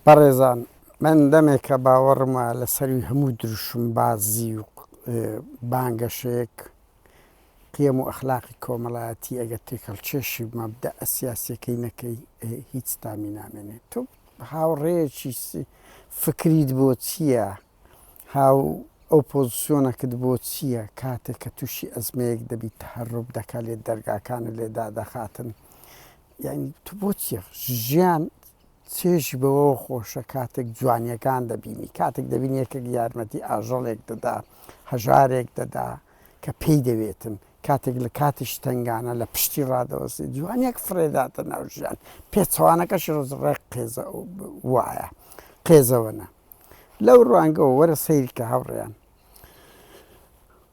بەڕێزان من دەمێکە باوەڕم وایە لەسەروی هەموو دروشمبازی و بانگەشەیەک قیەم و ئەخلاقی کۆمەڵایەتی ئەگە تێکەڵکێشی مەبدە ئەسیاسیەکەی نەکەی هیچ تامی نامێنێت تۆ هاوڕێیەکی فکریت بۆ چییە؟ هاو ئەو پۆزسیۆنەکت بۆ چییە کاتێک کە تووشی ئەزمەیەک دەبیت تەهەروب دەکات لێت دەرگاکانت لێ دادەخاتن یانی تو بۆ چییە ژیان چێژی بەوەوە خۆشە کاتێک جوانیەکان دەبینی کاتێک دەبین یەکێک یارمەتی ئاژەڵێک دەدا هەژارێک دەدا کە پێی دەوێتن کاتێک لە کاتیش تنگانە لە پشتی ڕادەوەستی جوانیەک فرێداتە ناوژیان پێچوانەکەش ڕزڕێک قێزە وایە قێزەوەە لەو ڕوانگەوە وەرە سەیری کە هاوڕێیان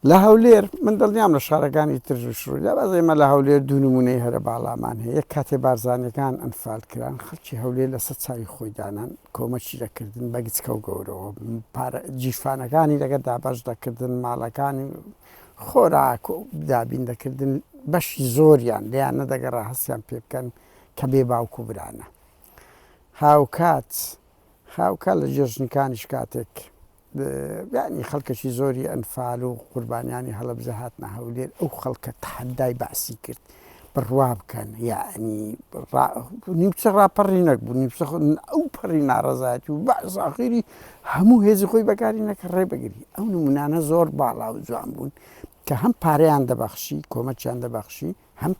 لە هەولێر من دڵنیام لە شارەکانی ترژ و شڕوی لە باز ئێمە لە هەولێر دوو نمونەی هەرە باڵامان هەیە یەک کاتێ بارزانەکان ئەنفال کران خەڵکی هەولێر لەسەر چاوی خۆی دانان کۆمەچی دەکردن بەگچکە و گەورەوە جیفانەکانی لەگە دابش دەکردن ماڵەکانی خۆراک و دابین دەکردن بەشی زۆریان لیان نەدەگەڕا هەستیان پێ بکەن کە بێ باوکو برانە هاوکات هاوکات لە جێژنەکانیش کاتێک یانی خەڵکەکی زۆری ئەنفال و قوربانیانی هەڵەبزە هاتنە هەولێر ئەو خەڵکە تحدای بەعسی کرد بڕوا بکەن یعنی نیوچە ڕاپەڕی نەکبوو نیوچە ئەو پەڕی ناڕزایەت و بەزاخیری هەموو هێزی خۆی بەکاری نەکە ڕێ بگری ئەو نمونانە زۆر باڵا و جوان بوون کە هەم پارەیان دەبەخشی کۆمەچیان دەبەخشی هەم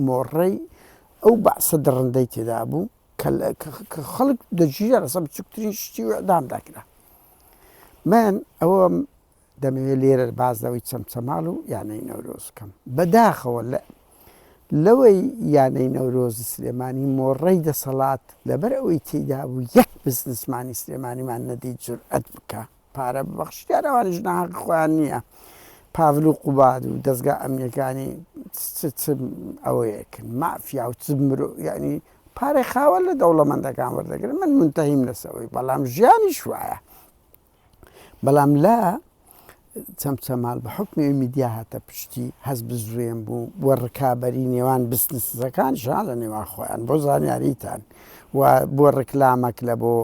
مۆڕەی ئەو بەعسە دڕندەی تێدا بوو کە خەڵک دەگیرا لەسەر بچووکترین شتی و ئەدام دەکرا من ئەوەم دەمەوێت لێرە بازەوەی چەمچەماڵ و یانەی نەورۆزکەم بەداخەوە لە لەوەی یانەی نەورۆزی سلێمانی مۆڕەی دەسەڵات لەبەر ئەوەی تێدا بوو یەک بزنسمانی سلێمانیمان نەدی جورئەت بکە پارە ببەخشی دیارە ئەوانیش ناهەقی خۆیان نییە پاڤل و قوباد و دەزگا ئەمنیەکانی چ چ ئەوەیەکن مافیا و چ مرۆ یعنی پارەی خاوەن لە دەوڵەمەندەکان وەردەگرن من منتەهیم لەسەوەی بەڵام ژیانیش وایە بەڵام لە چەمچەمال بە حکمی میدیا هاتە پشتی هەز بزوێن بوو و ڕکابەری نێوان بستنسەکان ژان لە نێوان خۆیان بۆ زانیاریتان و بۆ ڕکلامەک لە بۆ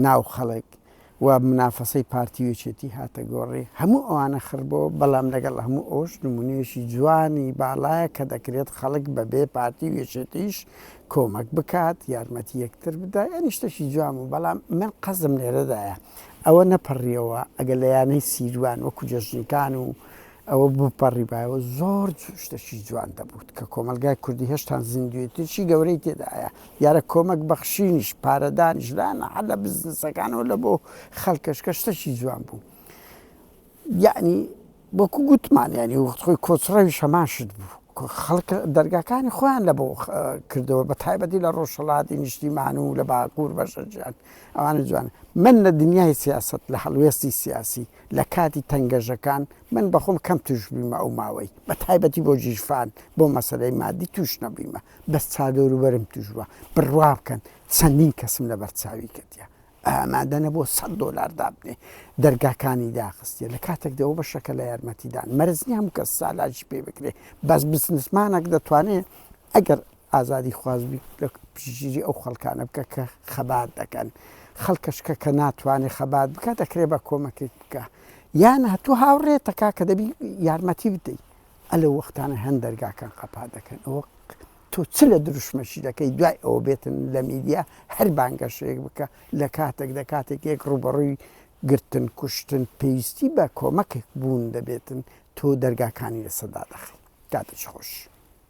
ناو خەڵک و منافەسەی پارتی و یەکێتی هاتە گۆڕێ، هەموو ئەوانە خڕ بۆوە، بەڵام لەگەڵ هەموو ئەوەش نموونەیەکی جوانی باڵایە کە دەکرێت خەڵک بەبێ پارتی و یەکێتیش کۆمەک بکات، یارمەتی یەکتر بدا، یانی شتێکی جوان بوو، بەڵام من قەزم لێرەدایە ئەوە نەپەڕیەوە ئەگەر لە یانەی سیروان وەکو جەژنکان و ئەوە بپەڕیبایەوە زۆر شتەکی جوان دەبوو کە کۆمەڵگای کوردی هێشتان زیندوێتیی گەورەی تێدایە، دیارە کۆمەک بەخشینیش، پارەدانیش لایەنە هەر لە بزنسەکانەوە لە بۆ خەڵکەش کە شتەکی جوان بوو. یەعنی وەکو گوتمان یەعنی وەخت خۆی کۆچڕەویش هەمان شت بوو. خەڵک دەرگاکانی خۆیان لە بۆ کردەوە بە تایبەتی لە ڕۆژهەڵاتی نیشتیمان و لە باکوور بەشەجیان ئەوانە جوان من لە دنیای سیاست لە هەڵوێستی سیاسی لە کاتی تەنگەژەکان من بەخۆم کەم توش بویمە ئەو ماوەی بە تایبەتی بۆ جیژفان بۆ مەسەلەی مادی توش نەبویمە بەس چا دەورو بەرم توش بوە بڕوا بکەن چەندین کەسم لەبەر چاوی کردیە ئامادە نەبوە سەد دۆلار دابنێ دەرگاکانی داخستیە لە کاتێک دەوە بە شەکە لە یارمەتیدان مەرزنی هەموو کەس سالاجی پێ بکرێ بەس بسنسمانەک دەتوانێ ئەگەر ئازادی خواز بی لە پشتگیری ئەو خەڵکانە بکە کە خەبات دەکەن خەڵکەش کە کە ناتوانێت خەبات بکە دەکرێت بە کۆمەکێک بکە یان هەتوو هاوڕێتەکە کە دەبی یارمەتی بدەیت ئەلە وەختانە هەن دەرگاکان قەپا دەکەن ئەوە تۆ چ لە دروشمەشی دەکەی دوای ئەوە بێتن لە میدیا هەر بانگەشەیەک بکە لە کاتێک لە کاتێک یەک ڕوبەڕووی گرتن کوشتن پێویستی بە کۆمەکێک بوون دەبێتن تۆ دەرگاکانی لە سەدا دەخی کاتەش خۆش.